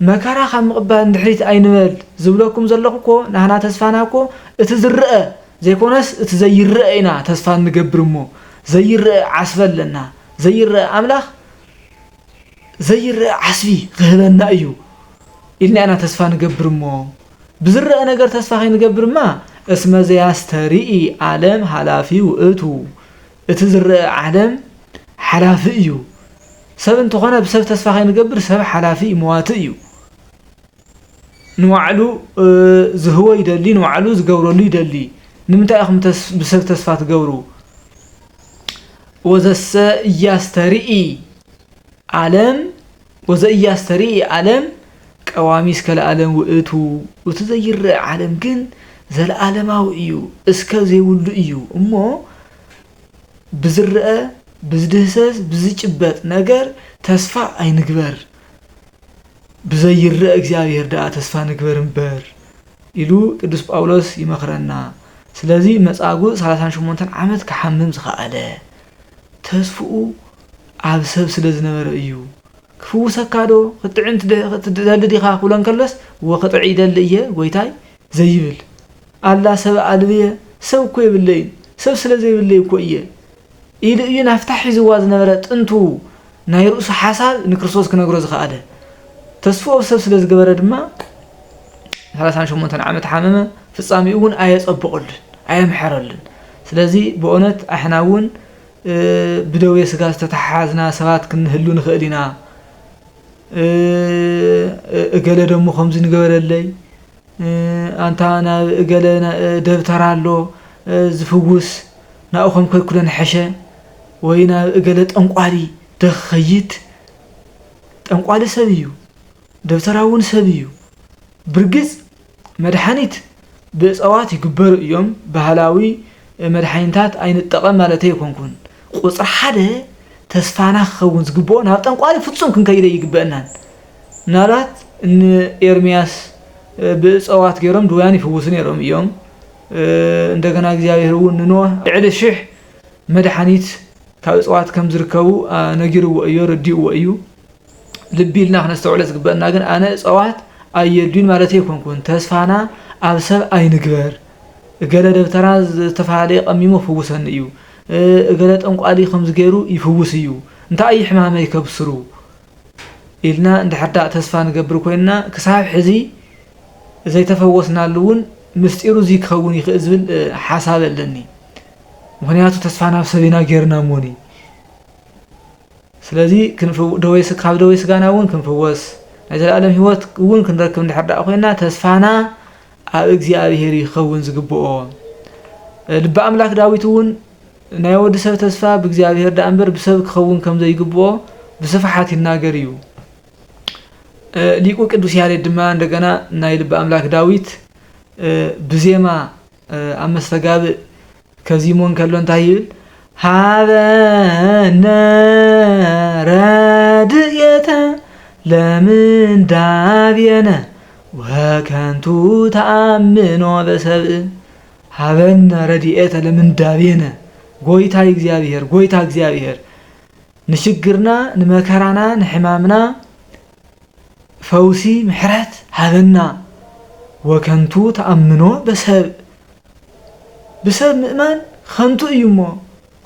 መከራ ካብ ምቕባል ንድሕሪት ኣይንበል ዝብለኩም ዘለኹ እኮ ናህና ተስፋና እኮ እቲ ዝረአ ዘይኮነስ እቲ ዘይረአ ኢና ተስፋ እንገብር እሞ ዘይረአ ዓስበ ኣለና ዘይረአ ኣምላኽ ዘይረኣ ዓስቢ ኺህበና እዩ ኢልና ኢና ተስፋ ንገብር እሞ፣ ብዚረኣ ነገር ተስፋ ኸይንገብርማ፣ እስመ ዘያስተርኢ ዓለም ሓላፊ ውእቱ፣ እቲ ዚረኣ ዓለም ሓላፊ እዩ። ሰብ እንተ ኾነ ብሰብ ተስፋ ኸይንገብር፣ ሰብ ሓላፊ እዩ፣ መዋቲ እዩ። ንባዕሉ ዝህቦ ይደሊ ንባዕሉ ዝገብረሉ ይደሊ ንምንታይ ኢኹም ብሰብ ተስፋ ትገብሩ ወዘሰ እያስተርኢ ዓለም ወዘእያስተርኢ ዓለም ቀዋሚ እስከ ለዓለም ውእቱ እቲ ዘይረአ ዓለም ግን ዘለዓለማዊ እዩ እስከ ዘይብሉ እዩ እሞ ብዝረኣ ብዝድህሰስ ብዝጭበጥ ነገር ተስፋ ኣይንግበር ብዘይረእ እግዚኣብሔር ደኣ ተስፋ ንግበር እምበር ኢሉ ቅዱስ ጳውሎስ ይመኽረና ስለዚ መጻጉእ ሰላሳን ሸሞንተን ዓመት ክሓምም ዝኸኣለ ተስፍኡ ኣብ ሰብ ስለ ዝነበረ እዩ ክፍውሰካ ዶ ክትጥዕም ትደሊ ዲኻ ክብሎ እንከሎስ እወ ክጥዕ ይደሊ እየ ጐይታይ ዘይብል ኣላ ሰብ ኣልብየ ሰብ እኮ የብለይን ሰብ ስለ ዘይብለይ እኮ እየ ኢሉ እዩ ናፍታ ሒዝዋ ዝነበረ ጥንቱ ናይ ርእሱ ሓሳብ ንክርስቶስ ክነግሮ ዝኸኣለ። ተስፍኡ ብ ሰብ ስለ ዝገበረ ድማ ሰላሳን ሸሞንተን ዓመት ሓመመ፣ ፍጻሜኡ እውን ኣየጸበቐሉን ኣየምሐረሉን። ስለዚ ብኦነት ኣሕና እውን ብደዌ ስጋ ዝተተሓሓዝና ሰባት ክንህሉ ንኸእል ኢና። እገለ ደሞ ከምዚ ንገበረለይ፣ ኣንታ ናብ እገለ ደብተራ ኣሎ ዝፍውስ ናብኡ ከም ከይኩደ ንሐሸ ወይ ናብ እገለ ጠንቋሊ ዶ ክከይድ ጠንቋሊ ሰብ እዩ ደብተራ ውን ሰብ እዩ ብርግጽ መድሓኒት ብእጸዋት ይግበሩ እዮም ባህላዊ መድሓኒታት ኣይንጠቀም ማለተይ ኣይኮንኩን ቁጽሪ ሓደ ተስፋና ክከውን ዝግብኦ ናብ ጠንቋሊ ፍጹም ክንከይድ ኣይግበእናን ምናልባት እኒ ኤርምያስ ብእፀዋት ገይሮም ድውያን ይፍውሱ ነይሮም እዮም። እንደገና እግዚኣብሔር እውን ንኖህ ልዕሊ ሽሕ መድሓኒት ካብ እፅዋት ከም ዝርከቡ ነጊርዎ እዩ ረዲእዎ እዩ። ልቢ ኢልና ክነስተውዕለ ዝግበአና ግን ኣነ እፀዋት ኣየድዩን ማለት ኣይኮንኩን ተስፋና ኣብ ሰብ ኣይንግበር እገለ ደብተራ ዝተፈላለየ ቀሚሙ ክፍውሰኒ እዩ እገለ ጠንቋሊ ከምዚ ገይሩ ይፍውስ እዩ እንታይ እዩ ሕማመይ ከብስሩ ኢልና እንድሕርዳእ ተስፋ ንገብር ኮይንና ክሳብ ሕዚ ዘይተፈወስናሉ እውን ምስጢሩ እዙይ ክኸውን ይኽእል ዝብል ሓሳብ ኣለኒ። ምኽንያቱ ተስፋ ናብ ሰብ ኢና ጌርና እሞኒ ስለዚ ካብ ደዌ ስጋና እውን ክንፍወስ ናይ ዘለኣለም ህይወት እውን ክንረክብ እንድሕርዳእ ኮይንና ተስፋና ኣብ እግዚኣብሄር እዩ ክኸውን ዝግብኦ። ልቢ ኣምላክ ዳዊት እውን ናይ ወዲ ሰብ ተስፋ ብእግዚኣብሔር ደኣምበር ብሰብ ክኸውን ከም ዘይግብኦ ብስፍሓት ይናገር እዩ። ሊቁ ቅዱስ ያሬድ ድማ እንደገና ናይ ልበ ኣምላክ ዳዊት ብዜማ ኣብ መስተጋብእ ከዚሞ እንከሎ እንታይ ይብል? ሃበነ ረድኤተ ለምንዳቤነ ወከንቱ ተኣምኖ በሰብእ ሀበነ ረድኤተ ለምንዳቤነ ጎይታይ እግዚኣብሔር ጎይታ እግዚኣብሔር ንሽግርና ንመከራና ንሕማምና ፈውሲ ምሕረት ሀበና ወከንቱ ተኣምኖ በሰብእ ብሰብ ምእማን ኸንቱ እዩ እሞ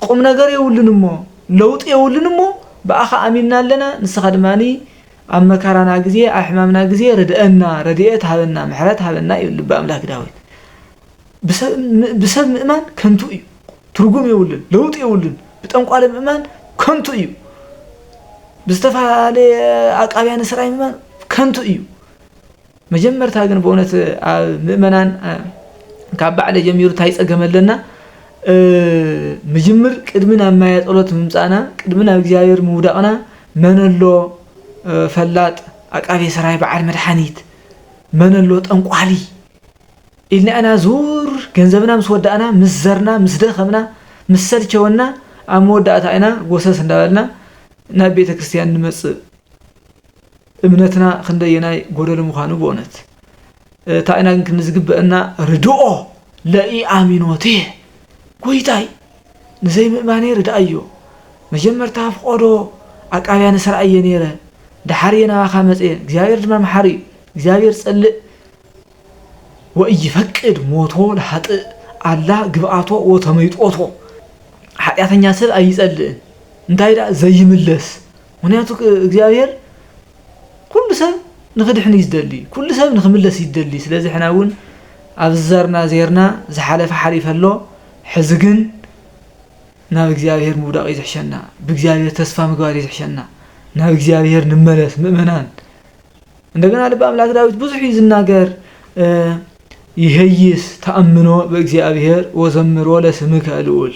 ቁምነገር የብሉን እሞ ለውጢ የብሉን እሞ ብኣኻ ኣሚንና ኣለና ንስኻ ድማ ኣብ መካራና ግዜ ኣብ ሕማምና ግዜ ርድእና ረድኤት ሃበና ምሕረት ሃበና ይብል ልበ ኣምላክ ዳዊት ብሰብ ምእማን ከንቱ እዩ ትርጉም የብሉን ለውጢ የብሉን ብጠንቋሊ ምእማን ከንቱ እዩ ብዝተፈላለየ ኣቃብያን ስራይ ምእማን ከንቱ እዩ መጀመርታ ግን በእውነት ኣብ ምእመናን ካብ ባዕለ ጀሚሩ እንታይ ጸገም ኣለና ምጅምር ቅድሚ ናብ ማያ ጸሎት ምምጻእና ቅድሚ ናብ እግዚኣብሔር ምውዳቕና መነሎ ፈላጥ ኣቃቤ ሰራይ በዓል መድሓኒት መነሎ ጠንቋሊ ኢልና ኢና ዙር ገንዘብና ምስ ወዳእና ምስ ዘርና ምስ ደኸምና ምስ ሰልቸወና ኣብ መወዳእታ ኢና ጎሰስ እንዳበልና ናብ ቤተ ክርስቲያን ንመጽእ እምነትና ክንደየናይ ጎደሎ ምዃኑ ብኡነት እታ ኢና ግን ክንዲ ዝግበእና ርድኦ ለኢኣሚኖቴ ጎይታይ ንዘይምእማኔ ርድኣዮ መጀመርታ ፍቆዶ ኣቃብያነ ሰራይ እየ ነይረ ደሓር እየ ናባካ መጽየ እግዚኣብሔር ድማ መሓሪ እዩ እግዚኣብሔር ጸልእ ወእይፈቅድ ሞቶ ለሃጥእ ኣላ ግብኣቶ ወተመይጦቶ ሓጢኣተኛ ሰብ ኣይጸልእን እንታይ ደኣ ዘይምለስ ምክንያቱ እግዚኣብሔር ኩሉ ሰብ ንክድሕን እዩ ዝደሊ ኩሉ ሰብ ንክምለስ እዩ ዝደሊ ስለዚ ሕና እውን ኣብ ዝዘርና ዜርና ዝሓለፈ ሓሊፈ ኣሎ ሕዚ ግን ናብ እግዚኣብሔር ምውዳቕ እዩ ዝሕሸና ብእግዚኣብሔር ተስፋ ምግባር እዩ ዝሕሸና ናብ እግዚኣብሔር ንመለስ ምእመናን እንደገና ልቢ ኣምላክ ዳዊት ብዙሕ እዩ ዝናገር ይሄይስ ተኣምኖ በእግዚኣብሔር ወዘምሮ ለስምከ ልዑል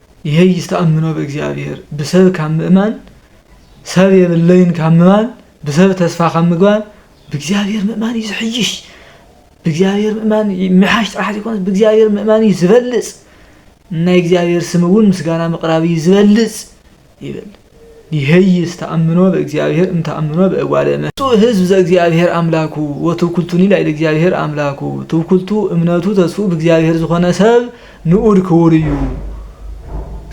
ይሔይስ ተኣምኖ በእግዚኣብሔር ብሰብ ካብ ምእማን ሰብ የብለይን ካብ ምባል ብሰብ ተስፋ ካብ ምግባር ብእግዚኣብሔር ምእማን እዩ ዝሕይሽ ብእግዚኣብሔር ምእማን ምሓሽ ጥራሕ ዘይኮነስ ብእግዚኣብሔር ምእማን እዩ ዝበልፅ ናይ እግዚኣብሔር ስም እውን ምስጋና ምቕራብ እዩ ዝበልፅ ይብል ይሔይስ ተኣምኖ በእግዚኣብሔር እም ተኣምኖ በእጓለ እመሕያው። ብፁዕ ሕዝብ ዘእግዚኣብሔር ኣምላኩ ወትውክልቱኒ ላዕለ እግዚኣብሔር ኣምላኩ ትውክልቱ እምነቱ ተስፍኡ ብእግዚኣብሔር ዝኾነ ሰብ ንኡድ ክቡር እዩ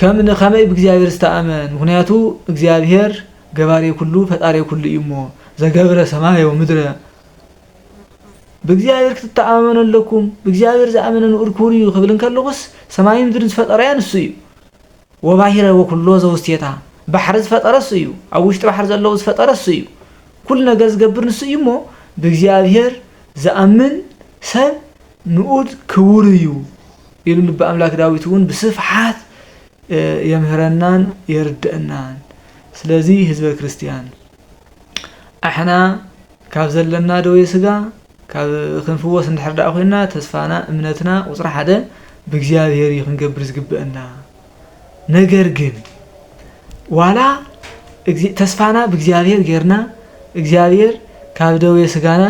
ከም ንከመይ ብእግዚኣብሔር ዝተኣመን ምኽንያቱ እግዚኣብሔር ገባሬ ኩሉ ፈጣሬ ኩሉ እዩ እሞ ዘገብረ ሰማየ ወምድረ ብእግዚኣብሔር ክትተኣማመኑ ኣለኩም ብእግዚኣብሔር ዝኣመነ ንኡድ ክቡር እዩ ክብል እንከለኹስ ሰማይን ምድርን ዝፈጠረያ ንሱ እዩ ወባሂረ ወኩሎ ዘውስቴታ፣ ባሕሪ ዝፈጠረ እሱ እዩ፣ ኣብ ውሽጢ ባሕሪ ዘለዉ ዝፈጠረ እሱ እዩ፣ ኩሉ ነገር ዝገብር ንሱ እዩ እሞ ብእግዚኣብሔር ዝኣምን ሰብ ንኡድ ክቡር እዩ ኢሉ ልበ ኣምላክ ዳዊት እውን ብስፍሓት የምህረናን የርደእናን ስለዚ ህዝበ ክርስቲያን ኣሕና ካብ ዘለና ደዌ ስጋ ክንፍወስ እንድሕር ደኣ ኮይና ተስፋና እምነትና ቁፅሪ ሓደ ብእግዚኣብሔር እዩ ክንገብር ዝግበአና ነገር ግን ዋላ ተስፋና ብእግዚኣብሔር ጌርና እግዚኣብሔር ካብ ደዌ ስጋና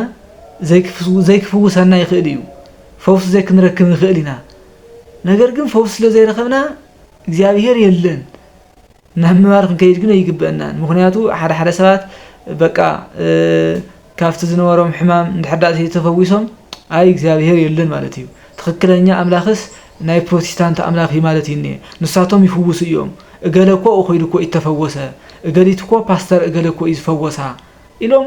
ዘይክፍውሰና ይኽእል እዩ ፈውሲ ዘይክንረክብ ንኽእል ኢና ነገር ግን ፈውሲ ስለ ዘይረኸብና እግዚኣብሔር የለን ናብ ምባል ክንከይድ ግን ኣይግበእናን ምኽንያቱ ሓደ ሓደ ሰባት በቃ ካብቲ ዝነበሮም ሕማም እንድሕር ዳኣ ተይተፈዊሶም ኣይ እግዚኣብሄር የለን ማለት እዩ ትኽክለኛ ኣምላኽስ ናይ ፕሮቲስታንት ኣምላኽ እዩ ማለት እዩ እንኤ ንሳቶም ይፍውሱ እዮም እገለ እኮ ኣብኡ ከይዱ እኮ እዩ እተፈወሰ እገሊት እኮ ፓስተር እገለ እኮ እዩ ዝፈወሳ ኢሎም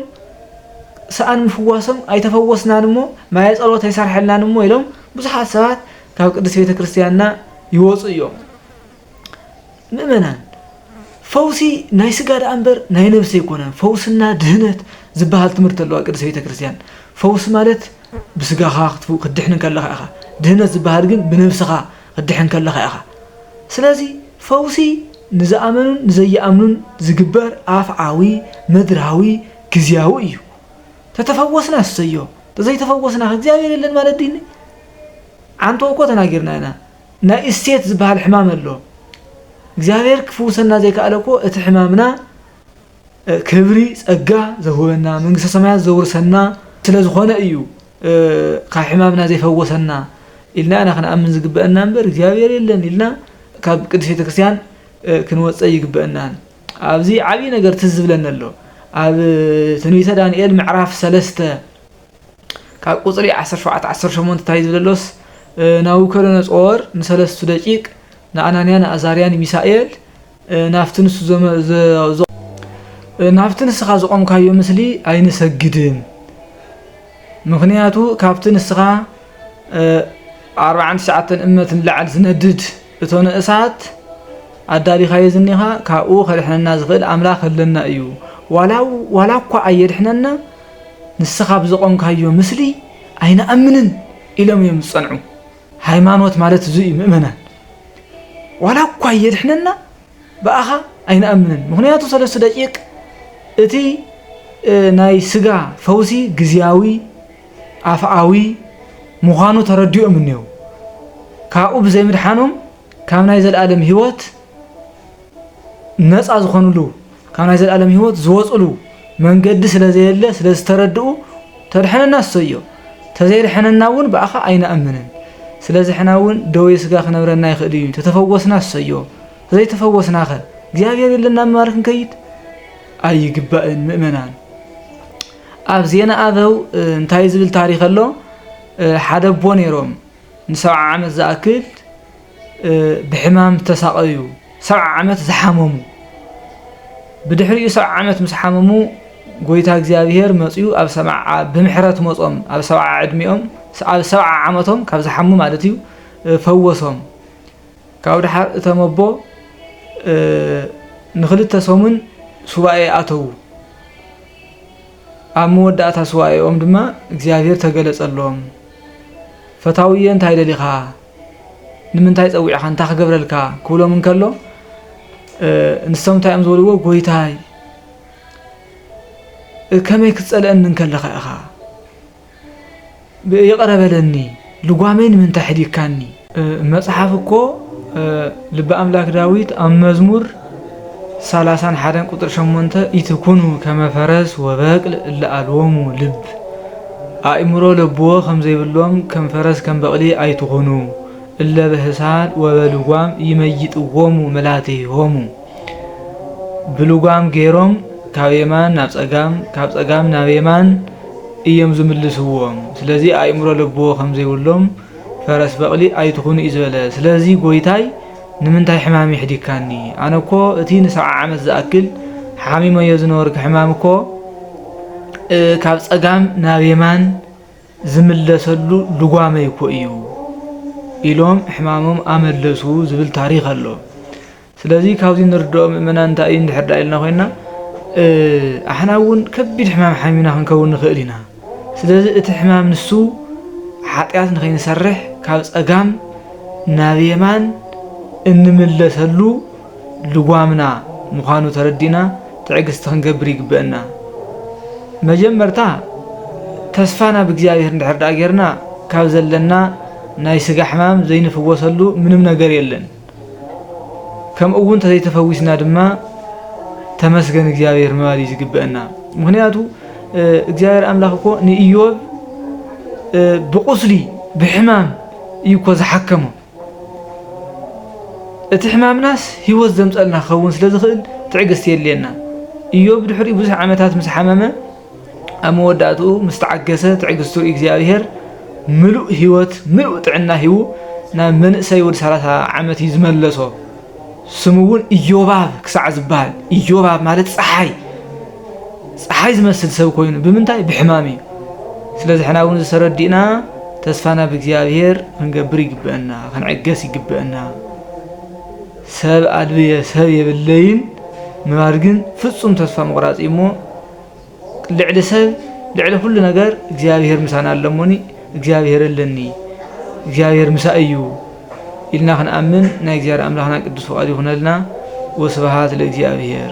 ሰኣን ምፍዋሶም ኣይተፈወስናን እሞ ማየ ጸሎት ኣይሰርሐልናን እሞ ኢሎም ብዙሓት ሰባት ካብ ቅድስት ቤተ ክርስትያንና ይወጹ እዮም ምእመናን ፈውሲ ናይ ስጋ ደኣ እምበር ናይ ነብሲ ኣይኮነን ፈውስና ድህነት ዝበሃል ትምህርቲ ኣለዋ ቅድስት ቤተ ክርስቲያን ፈውሲ ማለት ብስጋኻ ክትድሕን እንከለኻ ኢኻ ድህነት ዝበሃል ግን ብነብስኻ ክትድሕን እንከለኻ ኢኻ ስለዚ ፈውሲ ንዝኣመኑን ንዘይኣምኑን ዝግበር ኣፍዓዊ ምድራዊ ግዝያዊ እዩ ተተፈወስና እሰዮ ተዘይተፈወስና ከ እግዚኣብሔር የለን ማለት ድይኒ ዓንቶ እኮ ተናጊርና ኢና ናይ እስቴት ዝብሃል ሕማም ኣሎ እግዚኣብሔር ክፍውሰና ዘይከኣለ እኮ እቲ ሕማምና ክብሪ ጸጋ ዘውህበና መንግስተ ሰማያት ዘውርሰና ስለ ዝኾነ እዩ ካብ ሕማምና ዘይፈወሰና ኢልና ኢና ክንኣምን ዝግበአና እምበር እግዚኣብሔር የለን ኢልና ካብ ቅድስት ቤተ ክርስቲያን ክንወፀ ይግበአናን ኣብዚ ዓብዪ ነገር ትዝ ዝብለኒ ኣሎ ኣብ ትንቢተ ዳንኤል ምዕራፍ ሰለስተ ካብ ቍጽሪ ዓሰርተ ሸውዓተ ዓሰርተ ሸሞንተ እንታይ እዩ ዝብል ዘሎስ፣ ናቡከደነፆር ንሰለስቱ ደቂቅ፣ ንኣናንያ፣ ንኣዛርያ፣ ንሚሳኤል፣ ናብቲ ንሱ ዘ፣ ናብቲ ንስኻ ዘቖምካዮ ምስሊ ኣይንሰግድን፣ ምኽንያቱ ካብቲ ንስኻ፣ ኣርብዓን ትሽዓተን እመት ንላዕሊ ዝነድድ፣ እቶ ንእሳት ኣዳሊኻዮ ዝኒኻ ካብኡ ከድሕነና ዝኽእል ኣምላኽ ኣለና እዩ ዋላ ዋላ እኳ ኣየድሕነና ንስኻ ብዘቖምካዮ ምስሊ ኣይንኣምንን ኢሎም እዮም ዝጸንዑ ሃይማኖት ማለት እዙይ እዩ ምእመናን ዋላ እኳ ኣየድሕነና ብኣኻ ኣይንኣምንን ምኽንያቱ ሰለስቱ ደቂቅ እቲ ናይ ስጋ ፈውሲ ግዝያዊ ኣፍኣዊ ምዃኑ ተረዲኦም እኔዉ ካብኡ ብዘይምድሓኖም ካብ ናይ ዘለኣለም ህይወት ነፃ ዝኾንሉ ካብ ናይ ዘልኣለም ህይወት ዝወጽሉ መንገዲ ስለ ዘየለ ስለ ዝተረድኡ ተድሕነና እሰዮ ተዘይድሐነና እውን ብኣኻ ኣይንኣምንን ስለዚ ሕና እውን ደዌ ስጋ ክነብረና ይኽእል እዩ ተተፈወስና እሰዮ ተዘይተፈወስናኸ እግዚኣብሔር የለና ምባል ክንከይድ ኣይግባእን ምእመናን ኣብ ዜና ኣበው እንታይ ዝብል ታሪክ ኣሎ ሓደ ኣቦ ነይሮም ንሰብዓ ዓመት ዝኣክል ብሕማም ዝተሳቐዩ፣ ሰብዓ ዓመት ዝሓመሙ፣ ብድሕሪኡ ሰብዓ ዓመት ምስ ሓመሙ ጎይታ እግዚኣብሔር መፅኡ ኣብ ሰብዓ ብምሕረት መፆም ኣብ ሰብዓ ዕድሜኦም ኣብ ሰብዓ ዓመቶም ካብ ዝሓሙ ማለት እዩ ፈወሶም። ካብ ድሓር እቶም ኣቦ ንክልተ ሰሙን ሱባኤ ኣተዉ። ኣብ መወዳእታ ሱባኤኦም ድማ እግዚኣብሄር ተገለጸሎም ፈታውየ እንታይ ደሊኻ ንምንታይ ጸዊዕኻ እንታይ ክገብረልካ ክብሎም እንከሎ ንሶም እንታይ እዮም ዝበልዎ ጎይታይ ከመይ ክትጸልአኒ እንከለኻ ኢኻ ይቕረ በለኒ ልጓመይ ንምንታይ ሕዲግካኒ? መጽሓፍ እኮ ልበ ኣምላክ ዳዊት ኣብ መዝሙር ሰላሳን ሓደን ቁጽሪ ሸሞንተ ኢትኩኑ ከመ ፈረስ ወበቅል እለ ኣልቦሙ ልብ ኣእምሮ ለብዎ ከም ዘይብሎም ከም ፈረስ ከም በቅሊ ኣይትኹኑ እለ በህሳድ ወበልጓም ይመይጥዎሙ መላትሆሙ ብልጓም ገይሮም ካብ የማን ናብ ጸጋም ካብ ጸጋም ናብ የማን እዮም ዝምልስዎም ስለዚ ኣእምሮ ለብዎ ከምዘይብሎም ፈረስ በቕሊ ኣይትኹኑ እዩ ዝበለ ስለዚ ጎይታይ ንምንታይ ሕማም የሕዲግካኒ ኣነ እኮ እቲ ንሰብዓ ዓመት ዝኣክል ሓሚመዮ ዝነበርክ ሕማም እኮ ካብ ጸጋም ናብ የማን ዝምለሰሉ ልጓመይ እኮ እዩ ኢሎም ሕማሞም ኣመለሱ ዝብል ታሪኽ ኣሎ ስለዚ ካብዚ ንርድኦ ምእመናን እንታይ እዩ እንድሕር ደኣ ኢልና ኮይንና ኣሕና እውን ከቢድ ሕማም ሓሚምና ክንከውን ንኽእል ኢና። ስለዚ እቲ ሕማም ንሱ ሓጢኣት ንኸይንሰርሕ ካብ ጸጋም ናብ የማን እንምለሰሉ ልጓምና ምዃኑ ተረዲእና ትዕግስቲ ክንገብር ይግበእና። መጀመርታ ተስፋና ብእግዚኣብሔር እንድሕር ደኣ ጌርና ካብ ዘለና ናይ ስጋ ሕማም ዘይንፍወሰሉ ምንም ነገር የለን። ከምኡ እውን ተዘይተፈዊስና ድማ ተመስገን እግዚኣብሔር ምባል እዩ ዝግበአና ምክንያቱ እግዚኣብሔር ኣምላኽ እኮ ንእዮብ ብቁስሊ ብሕማም እዩ እኮ ዝሓከሞ እቲ ሕማምናስ ህይወት ዘምፀልና ክኸውን ስለ ዝኽእል ትዕግስቲ የድልየና እዮብ ድሕሪኡ ብዙሕ ዓመታት ምስ ሓመመ ኣብ መወዳእትኡ ምስ ተዓገሰ ትዕግስቱ እግዚኣብሔር ምሉእ ህይወት ምሉእ ጥዕና ሂቡ ናብ መንእሰይ ወዲ ሰላሳ ዓመት እዩ ዝመለሶ። ስሙ እውን ኢዮባብ ክሳዕ ዝበሃል ኢዮባብ ማለት ፀሓይ ፀሓይ ዝመስል ሰብ ኮይኑ ብምንታይ ብሕማም እዩ። ስለዚ ሕና እውን ዝተረዲእና ተስፋና ብእግዚኣብሔር ክንገብር ይግብአና፣ ክንዕገስ ይግብአና። ሰብ ኣልብየ ሰብ የብለይን ምባል ግን ፍጹም ተስፋ ምቑራጽ እዩ እሞ ልዕሊ ሰብ ልዕሊ ኩሉ ነገር እግዚኣብሔር ምሳና ኣሎ እሞኒ እግዚኣብሔር ኣለኒ እግዚኣብሔር ምሳይ እዩ ኢልና ክንኣምን ናይ እግዚኣብሔር ኣምላክና ቅዱስ ፍቃዱ ይኩነልና ወስብሃት ለእግዚኣብሔር።